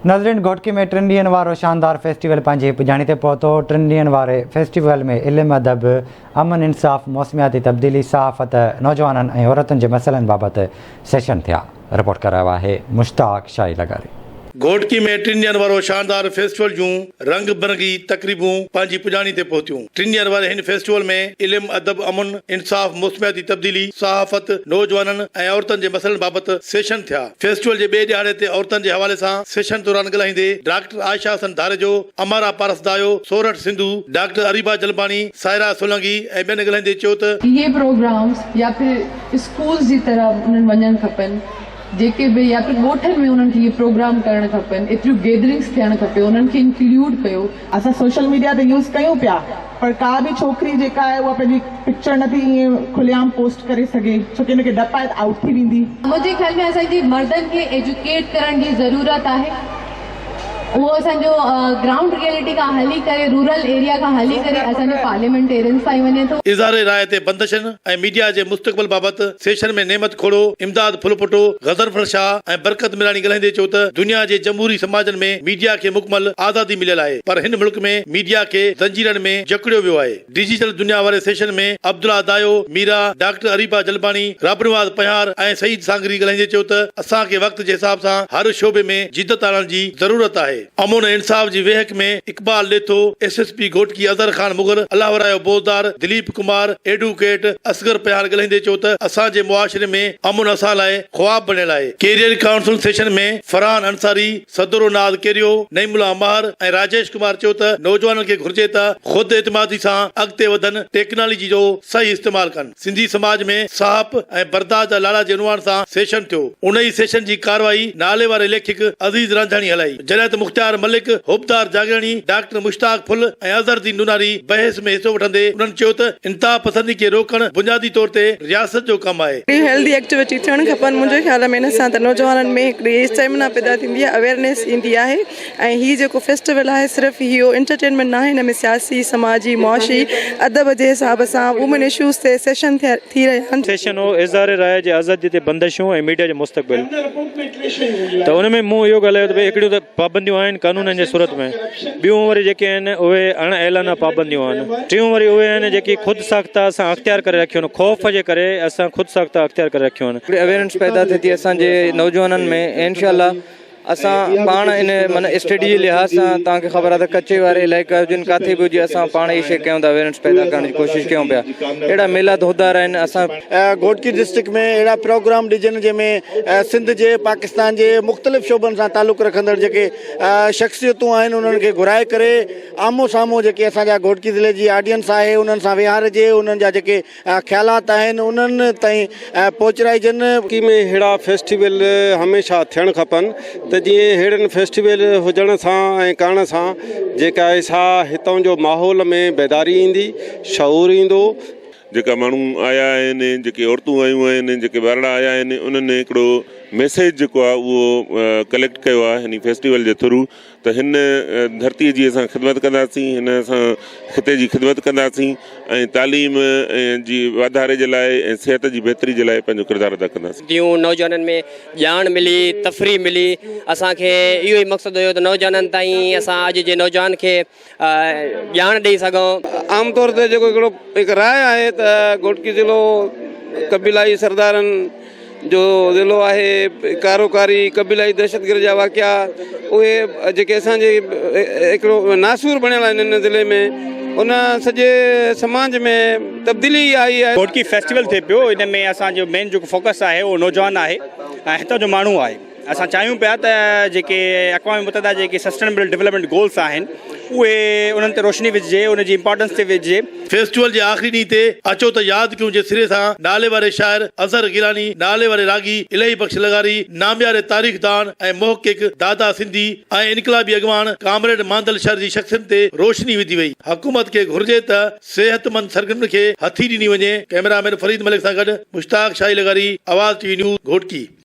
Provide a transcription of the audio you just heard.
ناظرين گهوٽڪي ۾ ٽن ڏينهن وارو شاندار فيسٽيول پنهنجي پڄاڻي تي پهتو، ٽن ڏينهن واري فيسٽيول ۾ علم ادب، امن انصاف، موسمياتي تبديلي، صحافت، نوجوانن ۽ عورتن جي مسئلن بابت سيشن ٿيا. رپورٽ ڪرايو آهي مشتاق شاهي لغاري. گهوٽڪي ۾ ٽن ڏينهن وارو شاندار فيسٽيول جون رنگ برنگي تقريبون پنهنجي پڄاڻي تي پهتيون، ٽن ڏينهن واري هن فيسٽيول ۾ علم ادب، امن انصاف، موسمياتي تبديلي، صحافت، نوجوانن ۽ عورتن جي مسئلن بابت سيشن ٿيا. فيسٽيول جي ٻئي ڏهاڙي تي عورتن جي حوالي سان سيشن دوران ڳلهائيندي ڊاڪٽر عائشه حسن ڌاريجو، امارا پارسدايو، سورٺ سنڌو، ڊاڪٽر اريبا جلباڻي، سائره سولنگي ۽ ٻين ڳلهائيندي چيو ته، اهي پروگرامز يا پھر اسڪولز جي طرح انهن وڃڻ کپن جيڪي به يا پھر ڳوٺن ۾ انهن کي اهي پروگرام ڪرڻ کپن ايتريون گيدرنگز ٿيڻ کپي انهن کي انڪليوڊ ڪيو. اسان سوشل ميڊيا ته يوز ڪيون پيا پر ڪا به ڇوڪري جيڪا آهي اها پنهنجي پڪچر نه ٿي ائين کلي عام پوسٽ ڪري سگهي ڇو ڪي ان کي ڊپ آهي ته آئوٽ ٿي ويندي. منهنجي خيال ۾ اسان جي مردن کي ايجوڪيٽ ڪرڻ جي ضرورت آهي اهو اسان جو گرائونڊ ريئلٽي کان هلي ڪري رورل ايريا کان هلي ڪري اسان جي پارليامينٽيرينز تائين وڃي ٿو. اظهار راء تي بندشن ۽ ميڊيا جي مستقبل بابت سيشن ۾ نعمت کوڙو، امداد ڦلپوٽو، غضنفر شاهه ۽ برڪت ميراڻي ڳالهائيندي چيو ته دنيا جي جمهوري سماجن ۾ ميڊيا کي مڪمل آزادي مليل آهي پر هن ملڪ ۾ ميڊيا کي زنجيرن ۾ جڪڙيو ويو آهي. ڊجيٽل دنيا واري سيشن ۾ عبدالله دايو، ميرا، ڊاڪٽر اريبا جلباڻي، ربنواز پنهار ۽ سعيد سانگري ڳالهائيندي چيو ته اسان کي وقت جي حساب سان هر شعبي ۾ جدت آڻڻ جي ضرورت آهي. امن ۽ انصاف جي ويهڪ ۾ Iqbal Detho, S S P Ghotki Azhar Khan Mughal, Allahwarayo Bozdar, Dilip Kumar, advocate Asghar Pahar ڳلهائيندي چيو ته اسان جي معاشري ۾ امن اسان لاء خواب بڻيل آهي. Career council session ۾ Farhan Ansari, صدر و ناز ڪيريو، نعيم الله مهر ۽ راجيش ڪمار چيو ته نوجوانن کي گهرجي ته خود اعتمادي سان اڳتي وڌن، ٽيڪناليجي جو صحيح استعمال ڪن. سنڌي سماج ۾ ساهپ ۽ برداشت جا لاڙا جي عنوان سان سيشن ٿيو. ان ئي سيشن جي ڪارروائي نالي واري ليکڪ عزيز رانجهاڻي هلائي، جڏهن ته مختيار ملڪ، حبدار جاڳياڻي، ڊاڪٽر مشتاق ڦل ۽ اظهر الدين نوناري بحث ۾ حصو وٺندي انهن چيو ته انتها پسندي کي روڪڻ بنيادي طور تي رياست جو ڪم آهي. اهڙي هيلڌي ايڪٽويٽي ٿيڻ کپن. منهنجي خيال ۾ ان سان ته نوجوانن ۾ هڪڙي اسٽيمنا پيدا ٿيندي آهي، اويئرنيس ايندي آهي. ۽ هي جيڪو فيسٽيول آهي صرف اهو انٽرٽينمينٽ ناهي هن ۾ سياسي سماجي معاشي ادب جي حساب سان وومين اشوز تي سيشن ٿي رهيا آهن. سيشن هو اظهار راء جي آزادي تي بندشون ۽ ميڊيا جو مستقبل ته ان ۾ مون اهو ڳالهايو ته ڀئي هڪڙيون ته پابنديون آهن قانونن جي صورت ۾ ٻيون وري جيڪي آهن اهي اڻ اعلانه پابنديون آهن ٽيون وري اهي آهن جيڪي خود ساخته اسان اختيار ڪري رکيون آهن خوف جي ڪري اسان خود ساخته اختيار ڪري رکيون آهن. هڪڙي اويرنس پيدا ٿي ٿي اسان جي نوجوانن ۾ ۽ انشاء الله اسان پاڻ ان من اسٽيڊي جي لحاظ سان توهان کي خبر آهي ته ڪچي واري علائقي هجن ڪاٿي به هجي اسان پاڻ هي شي ڪيون ٿا اويرنس پيدا ڪرڻ جي ڪوشش ڪيون پيا اهڙا ميلا ڌوڌار آهن اسان گهوٽڪي ڊسٽرڪٽ ۾ اهڙا پروگرام ڏجن جنهن ۾ سنڌ جي پاڪستان جي مختلف شعبن سان تعلق رکندڙ جيڪي شخصيتون آهن انهن کي گهرائي ڪري آمهون سامهون جيڪي اسان جا گهوٽڪي ضلعي جي آڊينس آهي انهن سان ويهارجي انهن جا جيڪي اها خيالات آهن انهن تائين پهچرائجن. ڪراچي ۾ اهڙا فيسٽيول هميشه ٿيڻ کپن ته جيئن اهڙن فيسٽيول هجڻ سان ۽ ڪرڻ سان جيڪا آهي سا هتئون جو ماحول ۾ بيداري ايندي، شعور ايندو، جيڪا ماڻهو آيا آهن جيڪي عورتون آيون آهن جيڪي ٻارڙا آيا آهن انهن هڪڙو ميسيج جيڪو آهي اهو ڪليڪٽ ڪيو آهي هن فيسٽيول جي ٿرو ته هن ڌرتيء جي اسان خدمت ڪنداسين، هن اسان خطي جي خدمت ڪنداسين ۽ تعليم جي واڌاري جي لاء ۽ صحت جي بهتري جي لاء پنهنجو ڪردار ادا ڪنداسين. جيون نوجوانن ۾ ڄاڻ ملي، تفريح ملي، اسان کي اهو ئي مقصد هيو ته نوجوانن تائين اسان اڄ جي نوجوان کي ڄاڻ ڏئي سگهون. عام طور تي جيڪو هڪڙو هڪ راء آهي ته گهوٽڪي ضلعو قبيلائي سردارن جو ضلعو آهي، ڪاروڪاري قبيلائي دهشتگرد جا واقعا اهي جيڪي اسان جي هڪڙو ناسور بڻيل آهي هن ضلعي ۾ ان سڄي سماج ۾ تبديلي ئي آئي آهي. گهوٽڪي فيسٽيول ٿئي پيو ان ۾ اسان جو مين جيڪو فوڪس آهي اهو نوجوان آهي ۽ هتان جو ماڻهو آهي. اسان چاهيون پيا ته جيڪي اقوام متحده جي جيڪي سسٽينبل ڊولپمينٽ گولز آهن اهي انهن تي روشني وجهجي ان جي امپارٽنس تي وجهجي. فيسٽيول جي آخري ڏينهن تي اچو ته ياد ڪيون جي سري سان نالي واري شاعر اظهر گيلاني، نالي واري راڳي الهي بخش لغاري، نامياري تاريخ دان ۽ محقق دادا سنڌي ۽ انقلابي اڳواڻ ڪامريڊ ماندل شر جي شخصيتن تي روشني وڌي وئي. حڪومت کي گهرجي ته صحتمند سرگرمين کي هٿي ڏني وڃي. ڪئميرا مين فريد ملڪ سان گڏ مشتاق شاهي لغاري، Awaz T V news, Ghotki.